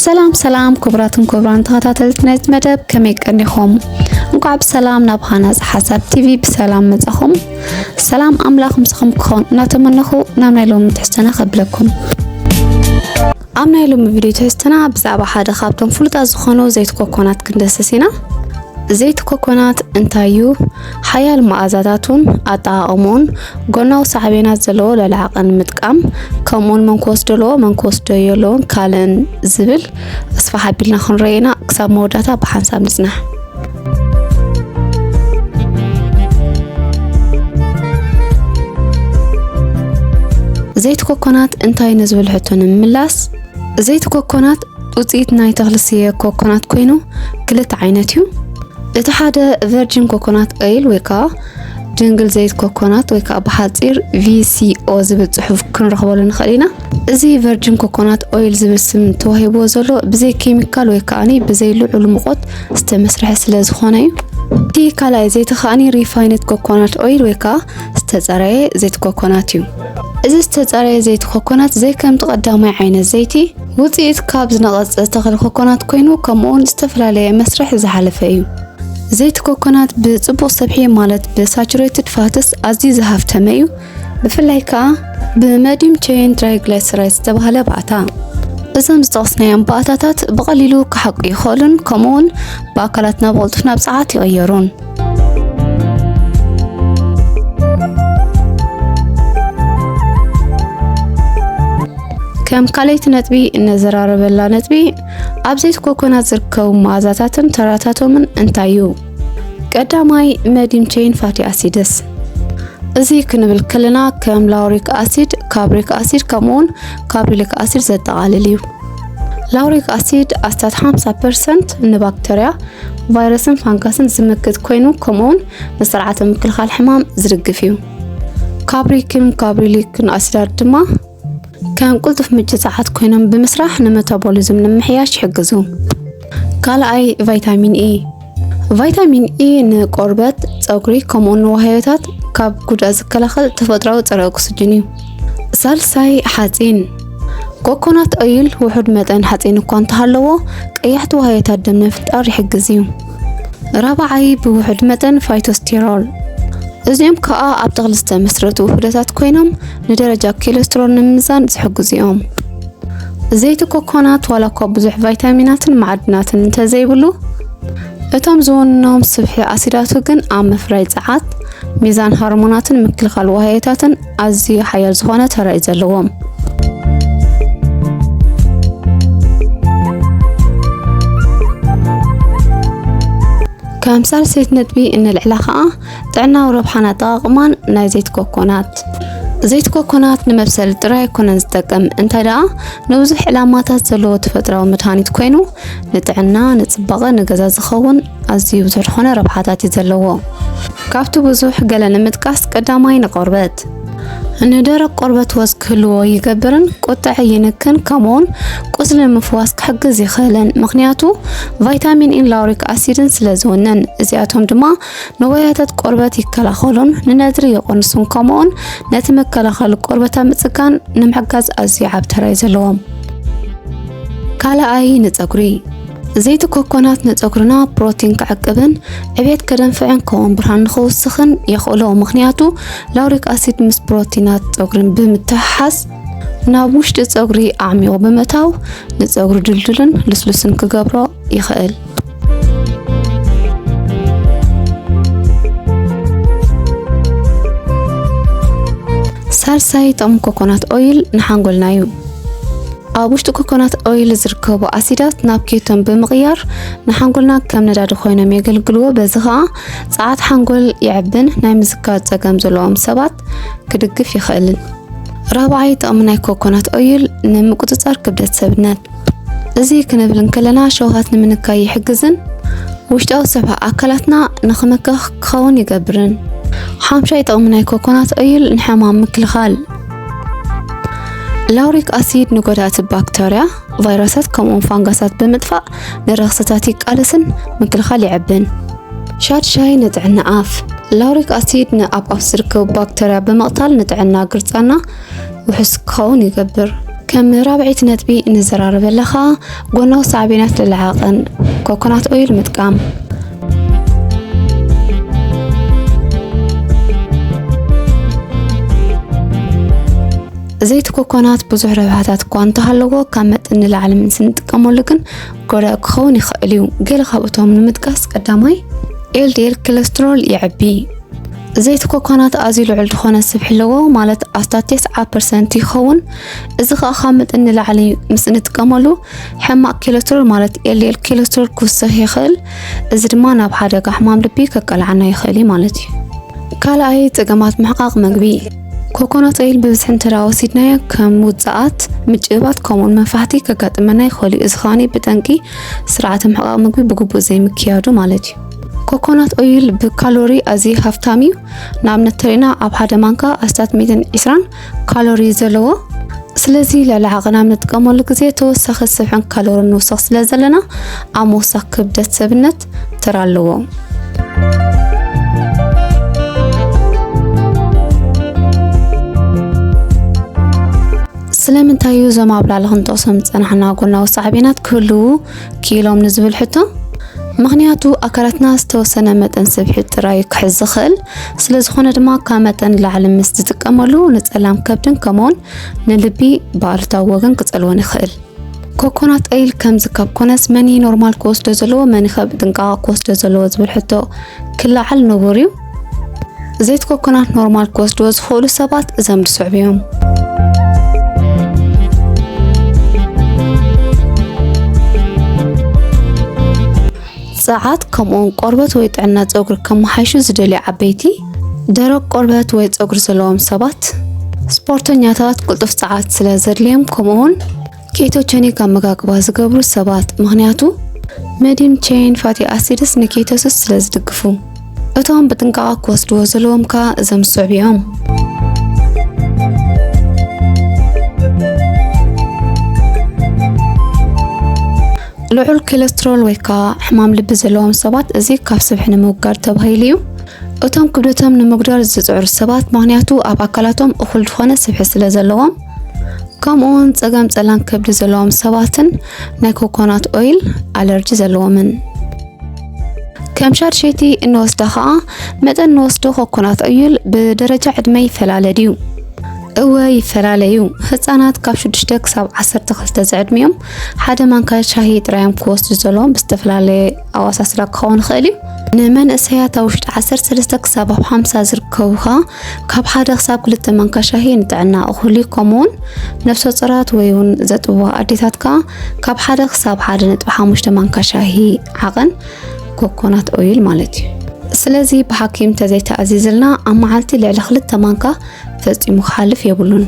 ሰላም ሰላም ክቡራትን ክቡራን ተኸታተልቲ ናይዚ መደብ ከመይ ቀኒኹም? እንኳዕ ብሰላም ናብ ሃናፅ ሓሳብ ቲቪ ብሰላም መጻኹም። ሰላም ኣምላኽ ምስኹም ክኸውን እናተመነኹ ናብ ናይ ሎሚ ትሕዝቶና ከብለኩም። ኣብ ናይ ሎሚ ቪድዮ ትሕዝቶና ብዛዕባ ሓደ ካብቶም ፍሉጣት ዝኾኑ ዘይቲ ኮኮናት ክንደስስ ኢና። ዘይቲ ኮኮናት እንታይ እዩ? ሓያል መኣዛታቱን ኣጠቓቕምኡን፣ ጎናዊ ሳዕቤናት ዘለዎ ለለዓቐ ንምጥቃም፣ ከምኡውን መን ክወስዶ ኣለዎ መን ክወስዶ የለዎን ካልእን ዝብል ኣስፋሕ ኣቢልና ክንረዮ ኢና። ክሳብ መወዳእታ ብሓንሳብ ንጽናሕ። ዘይቲ ኮኮናት እንታይ ንዝብል ሕቶ ንምምላስ ዘይቲ ኮኮናት ውፅኢት ናይ ተኽሊ ስየ ኮኮናት ኮይኑ ክልተ ዓይነት እዩ። እቲ ሓደ ቨርጂን ኮኮናት ኦይል ወይ ከዓ ድንግል ዘይት ኮኮናት ወይ ከዓ ብሓፂር ቪሲኦ ዝብል ፅሑፍ ክንረኽበሉ ንኽእል ኢና። እዚ ቨርጂን ኮኮናት ኦይል ዝብል ስም ተዋሂብዎ ዘሎ ብዘይ ኬሚካል ወይ ከዓኒ ብዘይ ልዑል ሙቆት ዝተመስርሐ ስለ ዝኾነ እዩ። እቲ ካልኣይ ዘይቲ ከዓኒ ሪፋይነት ኮኮናት ኦይል ወይ ከዓ ዝተፀረየ ዘይቲ ኮኮናት እዩ። እዚ ዝተፀረየ ዘይቲ ኮኮናት ዘይከምቲ ቀዳማይ ዓይነት ዘይቲ ውፅኢት ካብ ዝነቐፀ ተኽሊ ኮኮናት ኮይኑ ከምኡውን ዝተፈላለየ መስርሕ ዝሓለፈ እዩ። ዘይቲ ኮኮናት ብፅቡቕ ሰብሒ ማለት ብሳቹሬትድ ፋትስ ኣዝዩ ዝሃፍተመ እዩ። ብፍላይ ከዓ ብመዲም ቼይን ትራይግላይሰራይድ ዝተባህለ ባእታ እዞም ዝጠቕስናዮም ባእታታት ብቐሊሉ ክሓቁ ይኽእሉን ከምኡውን ብኣካላትና ብቕልጡፍ ናብ ፀዓት ይቕየሩን። ከም ካልኣይቲ ነጥቢ እነዘራረበላ ነጥቢ ኣብ ዘይቲ ኮኮናት ዝርከቡ መኣዛታትን ተራታቶምን እንታይ እዩ? ቀዳማይ መዲም ቼይን ፋቲ ኣሲድስ እዚ ክንብል ከለና ከም ላውሪክ ኣሲድ፣ ካብሪክ ኣሲድ ከምኡውን ካብሪሊክ ኣሲድ ዘጠቓልል እዩ። ላውሪክ ኣሲድ ኣስታት 50 ፐርሰንት ንባክተርያ ቫይረስን ፋንጋስን ዝምክት ኮይኑ ከምኡውን ንስርዓተ ምክልኻል ሕማም ዝድግፍ እዩ። ካብሪክን ካብሪሊክን ኣሲዳት ድማ ከም ቁልጡፍ ምንጪ ጸዓት ኮይኖም ብምስራሕ ንመታቦሊዝም ንምሕያሽ ይሕግዙ። ካልኣይ ቫይታሚን ኤ ቫይታሚን ኢ ንቆርበት፣ ፀጉሪ ከምኡውን ንዋህዮታት ካብ ጉድኣት ዝከላኸል ተፈጥሯዊ ፀረ ኦክስጅን እዩ። ሳልሳይ ሓፂን ኮኮናት ኦይል ውሑድ መጠን ሓፂን እኳ እንተሃለዎ ቀያሕቲ ዋህዮታት ደም ንምፍጣር ይሕግዝ እዩ። ራብዓይ ብውሑድ መጠን ፋይቶስቴሮል እዚኦም ከዓ ኣብ ተኽሊ ዝተመስረቱ ውሑደታት ኮይኖም ንደረጃ ኮሌስትሮል ንምምዛን ዝሕግዙ እዮም። ዘይቲ ኮኮናት ዋላ እኳ ብዙሕ ቫይታሚናትን ማዕድናትን እንተዘይብሉ እቶም ዝውንኖም ስብሒ ኣሲዳቱ ግን ኣብ ምፍራይ ጸዓት፣ ሚዛን ሃርሞናትን ምክልኻል ዋህዮታትን ኣዝዩ ሓያል ዝኾነ ተራ እዩ ዘለዎም። ከም ሳልሰይቲ ነጥቢ እነልዕላ ከዓ ጥዕናዊ ረብሓን ኣጠቓቕማን ናይ ዘይቲ ኮኮናት ዘይቲ ኮኮናት ንመብሰሊ ጥራይ ኣይኮነን ዝጠቅም እንታይ ደኣ ንብዙሕ ዕላማታት ዘለዎ ተፈጥራዊ መድሃኒት ኮይኑ ንጥዕና ንፅባቐ ንገዛ ዝኸውን ኣዝዩ ብዙሕ ዝኾነ ረብሓታት እዩ ዘለዎ ካብቲ ብዙሕ ገለ ንምጥቃስ ቀዳማይ ንቆርበት ንደረቅ ቆርበት ወዝ ክህልዎ ይገብርን ቁጥዐ ይንክን ከምኡውን ቁስሊ ምፍዋስ ክሕግዝ ይኽእልን ምክንያቱ ቫይታሚን ኢን ላውሪክ ኣሲድን ስለ ዝውንን እዚኣቶም ድማ ንዋያታት ቆርበት ይከላኸሉን ንነድሪ የቆንሱን ከምኡውን ነቲ መከላኸሊ ቆርበት ኣብ ምጽጋን ንምሕጋዝ ኣዝዩ ዓብ ተራ እዩ ዘለዎም። ካልኣይ ንጸጉሪ ዘይቲ ኮኮናት ንፀጉርና ፕሮቲን ክዕቅብን ዕብየት ከደንፍዕን ከምኡውን ብርሃን ንክውስኽን የኽእሎ ምክንያቱ ላውሪክ ኣሲድ ምስ ፕሮቲናት ፀጉርን ብምትሕሓዝ ናብ ውሽጢ ፀጉሪ ኣዕሚቑ ብምእታው ንፀጉሪ ድልዱልን ልስሉስን ክገብሮ ይኽእል። ሳልሳይ ጥቕሚ ኮኮናት ኦይል ንሓንጎልና እዩ። ኣብ ውሽጢ ኮኮናት ኦይል ዝርከቡ ኣሲዳት ናብ ኬቶን ብምቕያር ንሓንጎልና ከም ነዳዲ ኮይኖም የገልግልዎ። በዚ ከዓ ፀዓት ሓንጎል የዕብን ናይ ምዝካር ፀገም ዘለዎም ሰባት ክድግፍ ይኽእልን። ራብዓይ ጥቕሚ ናይ ኮኮናት ኦይል ንምቁፅፃር ክብደት ሰብነት እዚ ክንብል እንከለና ሸውሃት ንምንካይ ይሕግዝን ውሽጣዊ ሰብሃ ኣካላትና ንክምከኽ ክኸውን ይገብርን። ሓምሻይ ጥቕሚ ናይ ኮኮናት ኦይል ንሕማም ምክልኻል ላውሪክ ኣሲድ ንጎዳእቲ ባክተርያ፣ ቫይረሳት ከምኡውን ፋንጋሳት ብምጥፋእ ንረኽስታት ይቃለስን ምክልኻል ይዕብን። ሻድ ሻይ ንጥዕና ኣፍ ላውሪክ ኣሲድ ንኣብ ኣፍ ዝርከቡ ባክተርያ ብምቕታል ንጥዕና ግርጻና ውሑስ ክኸውን ይገብር። ከም ራብዒት ነጥቢ እንዘራረበላ ከኣ ጎናዊ ሳዕቤናት ልልዓቐን ኮኮናት ኦይል ምጥቃም ዘይቲ ኮኮናት ብዙሕ ረብሓታት እኳ እንተሃለዎ ካብ መጠን ንላዕሊ ምስ እንጥቀመሉ ግን ጎዳእ ክኸውን ይኽእል እዩ። ገለ ካብእቶም ንምጥቃስ ቀዳማይ ኤልዲኤል ኮለስትሮል የዕቢ። ዘይቲ ኮኮናት ኣዝዩ ልዑል ዝኾነ ስብሒ ኣለዎ ማለት ኣስታት ቴስዓ ፐርሰንት ይኸውን። እዚ ከዓ ካብ መጠን ንላዕሊ ምስ እንጥቀመሉ ሕማቅ ኬለስትሮል ማለት ኤልዲኤል ኬለስትሮል ክውስኽ ይኽእል። እዚ ድማ ናብ ሓደጋ ሕማም ልቢ ከቃልዓና ይኽእል እዩ ማለት እዩ። ካልኣይ ፀገማት ምሕቃቅ ምግቢ ኮኮናት ኦይል ብብዝሒ እንተዳ ወሲድናዮ ከም ውፅኣት፣ ምጭባት ከምኡውን መፋሕቲ ከጋጥመና ይኽእል እዩ። እዚ ከዓ ብጠንቂ ስርዓተ ምሕቃቅ ምግቢ ብግቡእ ዘይምክያዱ ማለት እዩ። ኮኮናት ኦይል ብካሎሪ ኣዝዩ ሃፍታም እዩ። ንኣብነት ተሪእና ኣብ ሓደ ማንካ ኣስታት 120 ካሎሪ ዘለዎ ስለዚ ልዕሊ ዓቕን ኣብ ንጥቀመሉ ግዜ ተወሳኺ ስብሕን ካሎሪን ንውስኽ ስለ ዘለና ኣብ ምውሳኽ ክብደት ሰብነት ተራ ኣለዎ። ስለምንታይ እዩ እዞም ኣብ ላዕሊ ክንጠቕሶም ዝጸናሕና ጎናዊ ሳዕቤናት ክህልዉ ክኢሎም ንዝብል ሕቶ ምክንያቱ ኣካላትና ዝተወሰነ መጠን ስብሒ ጥራይ ክሕዝ ዝኽእል ስለ ዝኾነ ድማ ካብ መጠን ንላዕሊ ምስ ዝጥቀመሉ ንጸላም ከብድን ከምኡውን ንልቢ ብኣሉታዊ ወገን ክጸልወን ይኽእል። ኮኮናት ኦይል ከምዚ ካብ ኮነስ መን ኖርማል ክወስዶ ዘለዎ መን ኸብ ጥንቃቐ ክወስዶ ዘለዎ ዝብል ሕቶ ክለዓል ንቡር እዩ። ዘይት ኮኮናት ኖርማል ክወስድዎ ዝኽእሉ ሰባት እዘም ዝስዕቡ እዮም። ጸዓት ከምኡውን ቆርበት ወይ ጥዕና ጸጉሪ ከመሓይሹ ዝደልዩ ዓበይቲ፣ ደረቅ ቆርበት ወይ ጸጉሪ ዘለዎም ሰባት፣ ስፖርተኛታት ቅልጡፍ ጸዓት ስለ ዘድልዮም ከምኡውን ኬቶቸኒክ ኣመጋግባ ዝገብሩ ሰባት ምኽንያቱ መዲም ቼን ፋቲ ኣሲድስ ንኬቶስስ ስለ ዝድግፉ እቶም ብጥንቃቐ ክወስድዎ ዘለዎም ከኣ እዞም ዝስዕቡ እዮም። ልዑል ኮለስትሮል ወይ ከዓ ሕማም ልቢ ዘለዎም ሰባት እዚ ካብ ስብሒ ንምውጋድ ተባሂሉ እዩ። እቶም ክብደቶም ንምጉዳል ዝፅዕሩ ሰባት ምክንያቱ ኣብ ኣካላቶም እኹል ዝኾነ ስብሒ ስለ ዘለዎም ከምኡውን ጸገም ጸላም ከብዲ ዘለዎም ሰባትን ናይ ኮኮናት ኦይል ኣለርጂ ዘለዎምን ከም ሻድሸይቲ እንወስዳ ከዓ መጠን እንወስዶ ኮኮናት ኦይል ብደረጃ ዕድመ ይፈላለ ድዩ? እወ ይፈላለ እዩ። ህፃናት ካብ 6 ክሳብ 12 ዝዕድሚኦም ሓደ ማንካ ሻሂ ጥራዮም ክወስዱ ዘለዎም ብዝተፈላለየ ኣዋሳስዳ ክኸውን ይኽእል እዩ። ንመንእሰያት ኣብ ውሽጢ 13 ክሳብ ኣብ 50 ዝርከቡ ከዓ ካብ ሓደ ክሳብ ክልተ ማንካ ሻሂ ንጥዕና እኹል ከምኡውን ነፍሰ ጾራት ወይ እውን ዘጥብዋ ኣዴታት ከዓ ካብ ሓደ ክሳብ ሓደ ነጥቢ ሓሙሽተ ማንካ ሻሂ ዓቐን ኮኮናት ኦይል ማለት እዩ ስለዚ ብሓኪም ተዘይተኣዚዝልና ኣብ መዓልቲ ልዕሊ ክልተ ማንካ ፈፂሙ ክሓልፍ የብሉን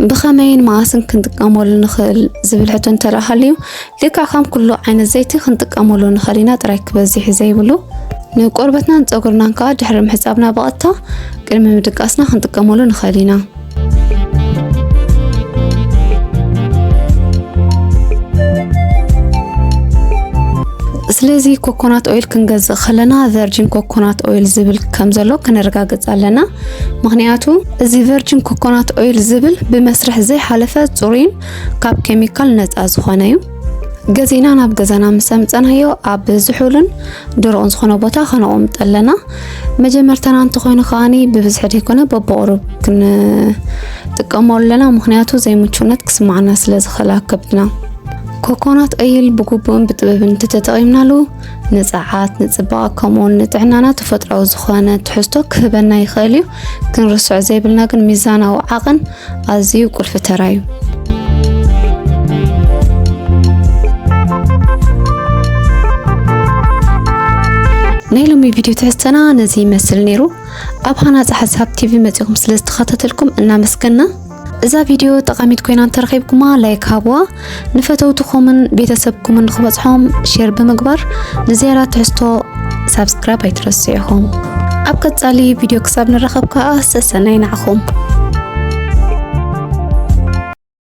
ብኸመይን መዓስን ክንጥቀመሉ ንኽእል ዝብል ሕቶ እንተረኣ ሃልዩ ልክዕ ከም ኩሉ ዓይነት ዘይቲ ክንጥቀመሉ ንኽእል ኢና ጥራይ ክበዝሕ ዘይብሉ። ንቆርበትናን ፀጉርናን ከዓ ድሕሪ ምሕፃብና ብቐጥታ ቅድሚ ምድቃስና ክንጥቀመሉ ንኽእል ኢና። ስለዚ ኮኮናት ኦይል ክንገዝእ ከለና ቨርጂን ኮኮናት ኦይል ዝብል ከም ዘሎ ክንረጋግጽ ኣለና። ምክንያቱ እዚ ቨርጂን ኮኮናት ኦይል ዝብል ብመስርሕ ዘይሓለፈ ጽሩይን ካብ ኬሚካል ነፃ ዝኾነ እዩ። ገዜና ናብ ገዛና ምስ ኣምፀናዮ ኣብ ዝሑልን ድሩቕን ዝኾነ ቦታ ከነቑምጥ ኣለና። መጀመርታና እንተኾይኑ ከዓኒ ብብዝሒ ዘይኮነ በብቑሩብ ክንጥቀሞ ኣለና፣ ምክንያቱ ዘይምቹነት ክስማዕና ስለ ዝኽእል ኣብ ከብድና። ኮኮናት ኦይል ብግቡእን ብጥበብን እንተተጠቒምናሉ ንፀዓት፣ ንፅባቐ ከምኡውን ንጥዕናና ተፈጥሯዊ ዝኾነ ትሕዝቶ ክህበና ይኽእል እዩ። ክንርስዖ ዘይብልና ግን ሚዛናዊ ዓቕን ኣዝዩ ቁልፊ ተራ እዩ። ናይ ሎሚ ቪድዮ ትሕዝተና ነዚ ይመስል ነይሩ። ኣብ ሃናፂ ሓሳብ ቲቪ መፂኹም ስለ ዝተኸታተልኩም እናመስገና እዛ ቪድዮ ጠቓሚት ኮይና እንተረኺብኩማ ላይክ ሃብዋ። ንፈተውትኹምን ቤተሰብኩምን ንክበፅሖም ሼር ብምግባር ንዝያዳ ትሕዝቶ ሳብስክራይብ ኣይትረስዑ ኢኹም ኣብ ቀፃሊ ቪድዮ ክሳብ ንረኸብ ከዓ ሰሰናይ ንዓኹም